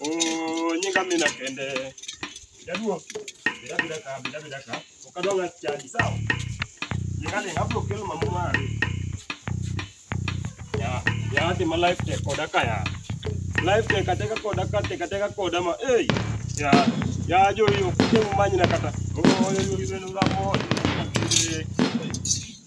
Oh, nyinga mimi nakende. Jaduo. Bila bila ka, bila bila ka. Ukadonga chadi sawa. Nyinga ni hapo kile mambo mali. Ya, ya hadi ma life tech koda kaya. Life tech kateka koda kate kateka koda ma. Eh. Ya, ya jo hiyo kile manyi na kata. Oh, yo yo ibeno ramo.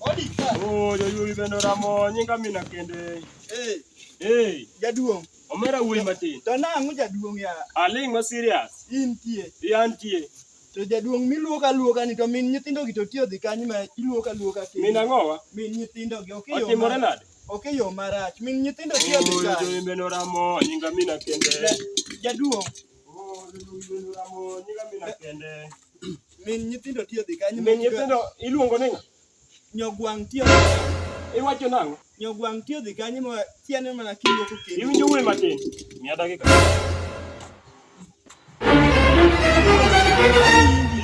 Odi. Oh, yo yo ibeno ramo. Nyinga mimi nakende. Eh. Eh. Jaduong'. Omera wuoyi matin. To nang'o jaduong' ya? Aling' ma serious. Intie. Iantie. To jaduong' miluok aluoka ni to min nyithindo gi to tiyo dhi kanyo ma iluok aluoka kendo. Min ang'owa? Min nyithindo gi ok yo. Otimore nade? Ok yo marach. Min nyithindo tiyo dhi kanyo. Oyo imbe noramo nyinga mina kende. Jaduong'. Oh, imbe noramo nyinga mina kende. Min nyithindo tiyo dhi kanyo. Min nyithindo iluongo ni ng'a? Nyogwang' tiyo. Iwacho nang'o? Nyogwang' tiyo dhi kanye ma tiane mana kiyo ko kendo. Iwinjo wuoyi matin. Miya dakika.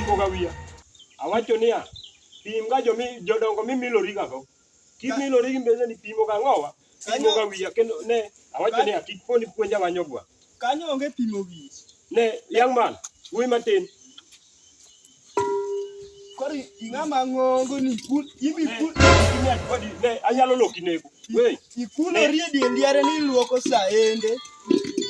Ipoga wiya. Awacho niya, pim ga jomi jodongo mimilori gago. Kimilori gi mbele ni pimo ga ng'owa. Pimo ga wiya kendo ne awacho niya kik poni puonja wanyogwa. Kanyo onge pimo wiyi. Ne young man, wuoyi matin. Kori ing'ama ng'ongo ni kul imi kul imi akwadi ne anyalo loki nego. We ikulori e dier ndiare ni iluoko saende.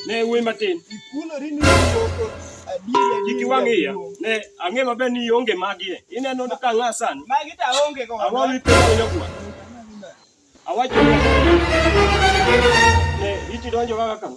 Ne wuoyi matin. Ikulori ni iluoko adiera ni Kiki wang' iya. Ne ang'e maber ni ionge magi e. Ineno ka ng'a sani. Magi ta onge ko. Ang'o mipenjo nyagwa? Awacho ne iti donjo kaka kama.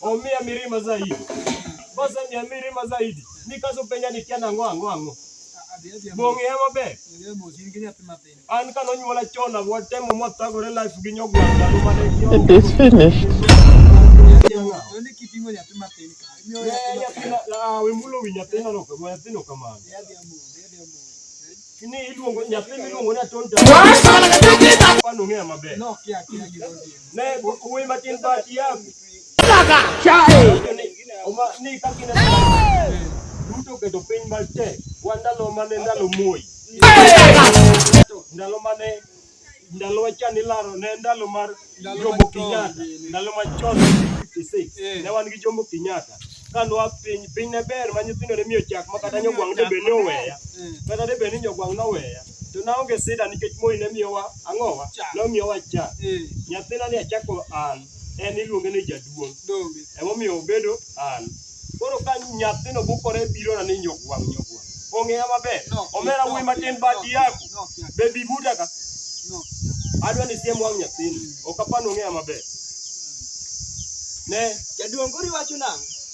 omia mirima zaidi basa mia mirima zaidi nikaso penya ni kiana ng'o ang'o ang'o bong'e ya maber an kano nyuola chon watemo mwatagore life gi nyogwanda mane it is finished wemulo wi nyathino no nyathino kamano ni iluongo nyathi miluongo ni atonda pano ng'eya maber Nay, bukuwi matin ba tiyam? Talaga! Siya eh! Uma, ni kang kinatay. Luto ka doping malte. Wanda lo mane ndalo moy. Ndalo mane ndalo wachani laro ne ndalo mar Jomo Kenyatta. Ndalo machon 56. Ne wan gi Jomo Kenyatta. kanwa piny piny ne ber ma nyithindo ne miyo chak ma kata nyogwang' de be ne oweya kata de be ni nyogwang' noweya To naonge sida nikech Moi ne miyowa ang'owa, nomiyowa cha. Eh. Nyathina ni achako an, en iluonge ni jaduong'. Emomiyo obedo an. Koro ka nyathino bukore birona ni nyogwang' nyogwang'. Ong'eya maber. Omera wuoyi matin bati yako. Bebi buta ka. Adwa ni siem wang' nyathini. Ok apani ong'eya maber. Ne. Jaduong' koro iwacho nang'o?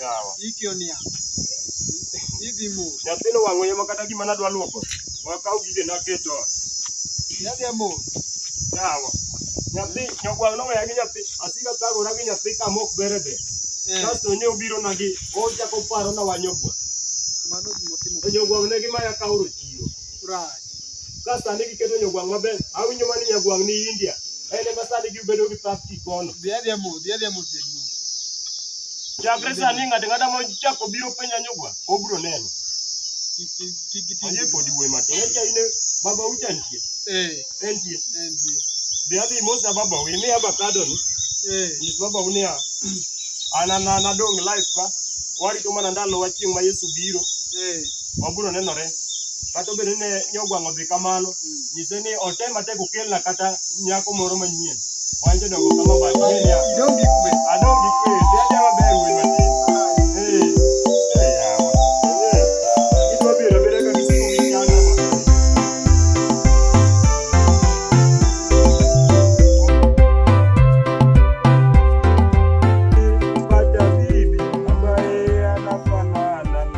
Yawa. Iki onia. Idhi mos. Nyathino wang'o yema kata gima nadwa luoko. Wakaw gige naketo. Yadhi mos. Yawa. Nyathi nyogwang' noweya gi nyathi. Asika thagora gi nyathi kama ok bere be. Eh. Kasto ne obiro na gi ochako paro na wanyogwa. Mano gima timo. Nyogwang' ne gima ya kaoro chiro. Ka sani giketo nyogwang' maber, awinjo mani nyagwang' ni India. En ema sani gibedo gi pap kikono. Chakre sani ng'ato ng'ata ma chako biro penja nyogwang', obro neno. Ayie kodi wuoyi matin. Echa ine baba ucha nitie. Entie. Be adhi mosna baba wi mi abakado ni. Nyis baba u niya, an an an adong life ka. Warito mana ndalo wa chieng' ma Yesu biro. wabiro nenore kata obedo ni ne ogwang'o dhi kamano nyise ni otem atek okelna kata nyako moro manyien wan jodongo kama batni adong gi kwe adong gi kwe dhi adhi maber wuoyi matin